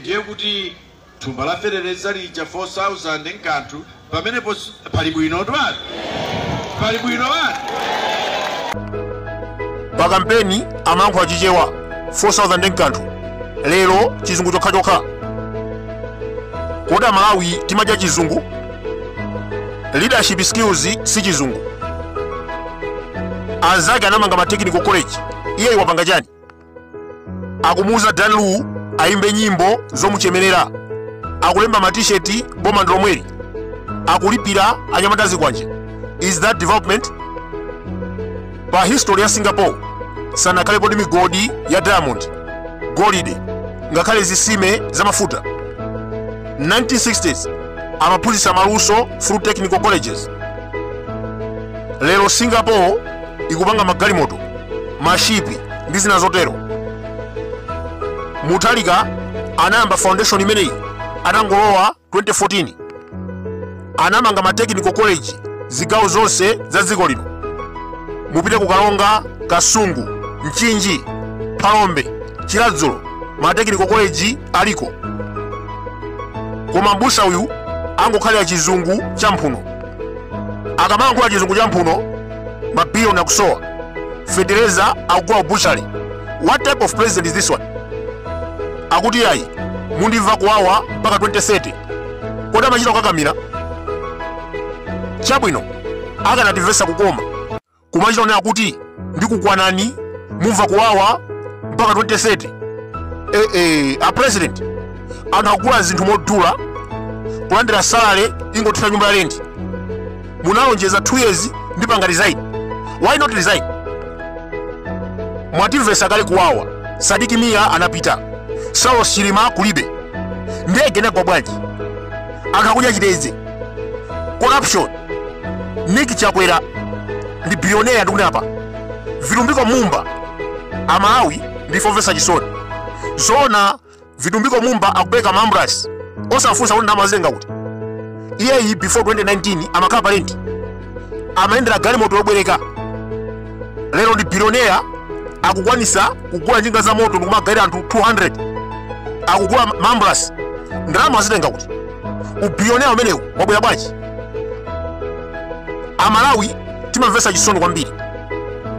ndiye kuti thumba la feteleza lija 4000 nkanthu pamenepo si- pali bwino twati pali bwino wati pa kampeni amalankhula chichewa 4000 nkanthu lero chizungu chokhachokha kodi amalawi timadya chizungu leadership skills si chizungu anzake anamanga ma technical college iyeyu wapanga chani akumuuza dan lu ayimbe nyimbo zomuchemerera akulemba matisheti boma ndilomweli akulipira anyamata azikwanje is that development pa history ya singapore sanakhalepo ndi migodi ya diamond golide ngakhale zisime za mafuta 1960s amaphunzitsa maluso through technical colleges lero singapore ikupanga magalimoto mashipi ndi zina zotero mutharika anayamba foundation imeneyi atangolowa 2014 anamanga ma technical college zigawo zonse za dziko lino mupite ku karonga kasungu mchinji phalombe chiradzulu ma technical college aliko koma mbusa uyu angokhalira chizungu cha mphuno akamayankhula chizungu cha mphuno mabilioni akusowa fetereza akugula ku butchery what type of president is this one akuti yayi mundimva kuwawa mpaka 2030 kodi amachita kukakamira chabwino akanatimvesa kukoma kumachita kunena kuti ndikukwanani mumva kuwawa mpaka 2030 eh, eh, a president anthu akugula zinthu modula kulandira salary ingothera nyumba ya lendi munalonjeza 2 years ndipanga resign why not resign mwatimvesa kale kuwawa sidik mia anapita saulos chilima kulibe ndege inagwa bwanji anthu akudya chitedze corruption Nick Chakwera ndi billionaire ndikunena apa vitumbiko mumba amalawi ndife omvetsa chisoni zona vitumbiko mumba akupereka ma ambulance osafunsa kuti ndalama wazitenga kuti iyeyi before 2019 amakhala pa lendi amayendera galimoto yobwereka lero ndi billionaire akukwanisa kugula njinga za moto ndikumagawira anthu 200 akugula ma ambulance ndalama azitenga kuti ubillionaire umenewu wabwera bwanji amalawi timamvetsa chisoni kwambiri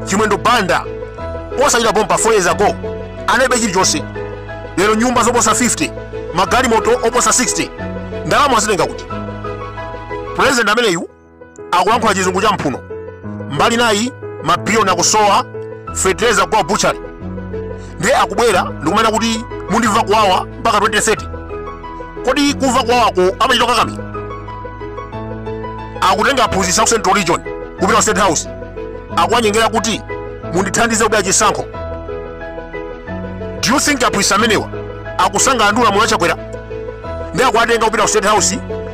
chimwendo banda posachedwa pompa 4 years ago analibe chilichonse lero nyumba zoposa 50 magalimoto oposa 60 ndalama azitenga kuti pulezidenti ameneyu akulankhula chizungu cha mphuno mbali nayi mabiliyoni akusowa fetereza kwa butchery ndiye akubwera ndikumanena kuti mundimva kuwawa mpaka 2030 kodi kumva kuwawako amachita kukakamira akutenga aphunzitsi a ku central region kupita ku state house akuwanyengerera kuti mundithandize kubera chisankho do you think aphunzitsi amenewa akusangalala ndi ulamuliro wa chakwera ndiye akuwatenga kupita ku state house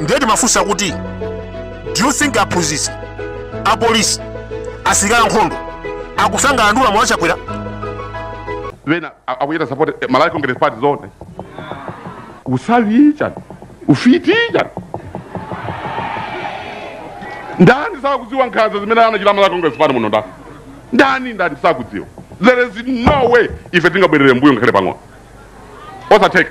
ndiye timafunsa kuti do you think aphunzitsi apolisi asilikali ankhondo akusangalala ndi ulamuliro wa chakwera pena a- akuchita support eh, malawi congress party zone usavi chani ufiti chani ndani sakudziwa nkhanza zimene anachita malawi congress party muno ndani ndani ndani sakudziwa there is no way ife tingabwerere mbuyo ngakhale pang'ono osatheka